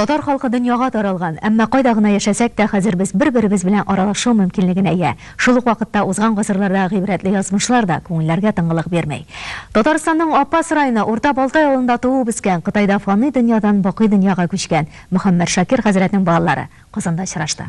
Татар халкы дөньяга таралган, әмма кайда гына яшәсәк тә, хәзер без бер-беребез белән аралашу мөмкинлегенә ия. Шул ук вакытта узган гасырлардагы гыйбрәтле язмышлар да күңелләргә тыңгылык бирми. Татарстанның Апас районы Урта Балтай авылында туып-үскән, Кытайда фани дөньядан бакый дөньяга күчкән Мөхәммәт Шакир хәзрәтнең балалары Казанда очрашты.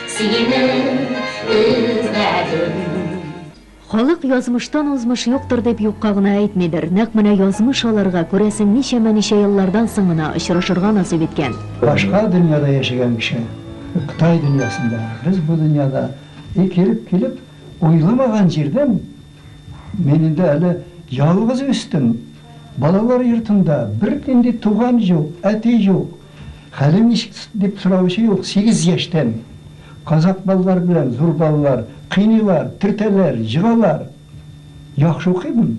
Сине эзләдем. Халык язмыштан узмыш юктыр дип юкка гына әйтмидер, нәкъ менә язмыш аларга, күрәсең, ничәмә-ничә еллардан соң гына очрашырга насыйп иткән. Башка дөньяда яшәгән кеше, Кытай дөньясында, без бу дөньяда и килеп килеп, уйламаган җирдән, мин инде әле ялгыз үстем, балалар йортында, бернинди туган юк, әти юк, Хәлең ничек? дип сораучы юк. Сигез яшьтән казак балалары белән зур балалар кыйныйлар, төртәләр, җыгалар. Яхшы укыймын,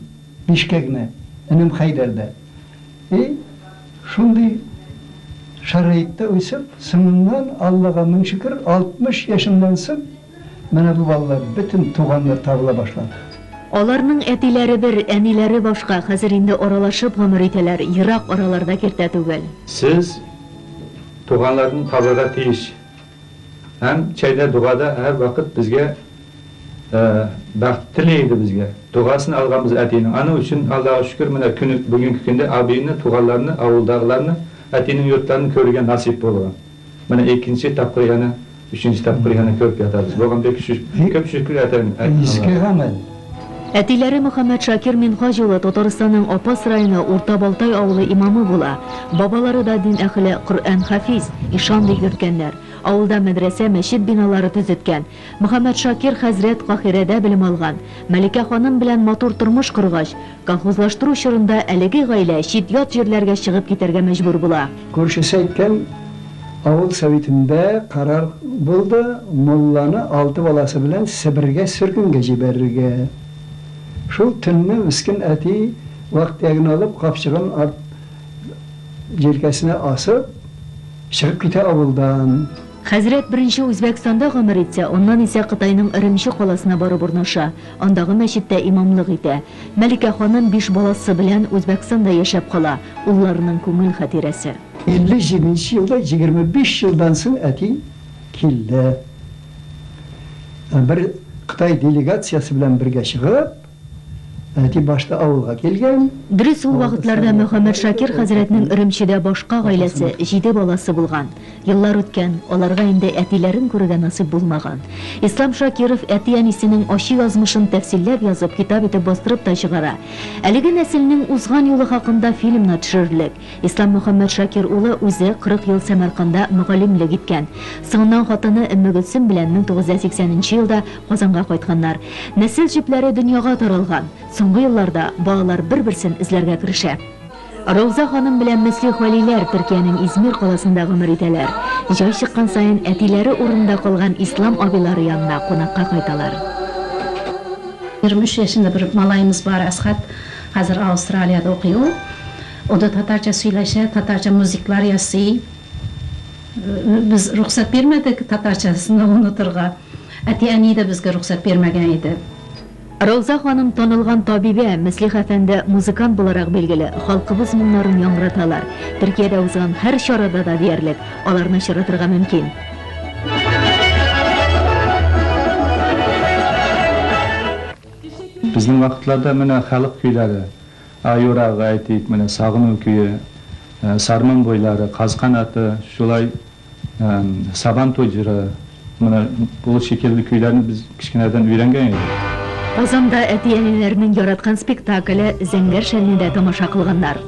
бишкә генә, энем Хәйдәр дә. И, шундый шәрәитта үсеп, соңыннан, Аллага мең шөкер, 60 яшемнән соң, Менә бу балалар бөтен туганнар табыла башлады. Аларның әтиләре бер, әниләре башка, хәзер инде аралашып гомер итәләр, ерак араларда киртә түгел. Сез туганларны табырга тиеш һәм чәйдә догада һәр вакыт безгә бәхт тели иде безгә. Догасын алганбыз әтинең. Аның өчен Аллага шөкер, менә көне бүгенге көндә абыйны, туганларны, авылдагыларны, әтинең йортларын күрергә насыйп булган. Менә икенче тапкыр янә, өченче тапкыр янә кереп ятабыз. Бу гамьлек күп шикле әтәң. Иске гамәл. Әтиләре Мөхәммәтшакир Минһаҗ улы Татарстанның Апас районы Урта Балтай авылы имамы була. Бабалары да дин әхеле, Коръән хафиз, ишан дип йөрткәннәр. Авылда мәдрәсә, мәчет биналары төзеткән. Мөхәммәтшакир хәзрәт Каһирәдә белем алган. Мәликә ханым белән матур тормыш коргач, колхозлаштыру чорында әлеге гаилә чит-ят җирләргә чыгып китәргә мәҗбүр була. Күршесе әйткән, авыл советында карар булды, мулланы алты баласы белән Себергә сөргенгә җибәрергә. Шул төнне мескен әти вак-төяген алып, капчыгын арт җилкәсенә асып, чыгып китә авылдан. Хәзрәт беренче Үзбәкстанда гомер итсә, аннан исә Кытайның Өремче каласына барып урнаша, андагы мәчеттә имамлык итә. Мәликә ханым биш баласы белән Үзбәкстанда яшәп кала, улларының күңел хатирәсе. 57 нче елда, 25 елдан соң әти килде. Бер Кытай делегациясе белән бергә чыгып. Әти башта авылга килгән. Дөрес, ул вакытларда Мөхәммәд Шакир хәзрәтнең Өремчедә башка гаиләсе, җиде баласы булган. Еллар үткән, аларга инде әтиләрен күрергә насыйп булмаган. Ислам Шакиров әти-әнисенең ачы язмышын тәфсилләп язып, китап итеп бастырып та чыгара. Әлеге нәселнең узган юлы хакында фильмнар төшерерлек. Ислам Мөхәммәтшакир улы үзе 40 ел Сәмәрканда мөгаллимлек иткән. Соңыннан хатыны Өммегөлсем белән 1980 нче елда Казанга кайтканнар. Нәсел җепләре дөньяга таралган. Соңгы елларда балалар бер-берсен эзләргә керешә. Рауза ханым белән Мөслих Вәлиләр Төркиянең Измир каласында гомер итәләр. Җай чыккан саен әтиләре урынында калган Ислам абыйлары янына кунакка кайталар. 23 яшендә бер малаемыз бар, Әсхәт. Хәзер Аустралиядә укый ул. Ул да татарча сөйләшә, татарча музыклар ясый. Без рөхсәт бирмәдек татарча сны онытырга. Әти-әни дә безгә рөхсәт бирмәгән иде. Рауза ханым танылган табибә, Мөслих әфәнде музыкант буларак билгеле, халкыбыз моңнарын яңгыраталар. Төркиядә узган һәр чарада да диярлек, аларны очратырга мөмкин. Безнең вакытларда менә халык көйләре, Аюрагы, әйтик, менә Сагыну көе, Сарман буйлары, Каз канаты, шулай Сабантуй җыры, менә бу шикелле көйләрне без кечкенәдән өйрәнгән идек. Казанда әти-әниләрнең яраткан спектакле Зәңгәр шәлне дә тамаша кылганнар.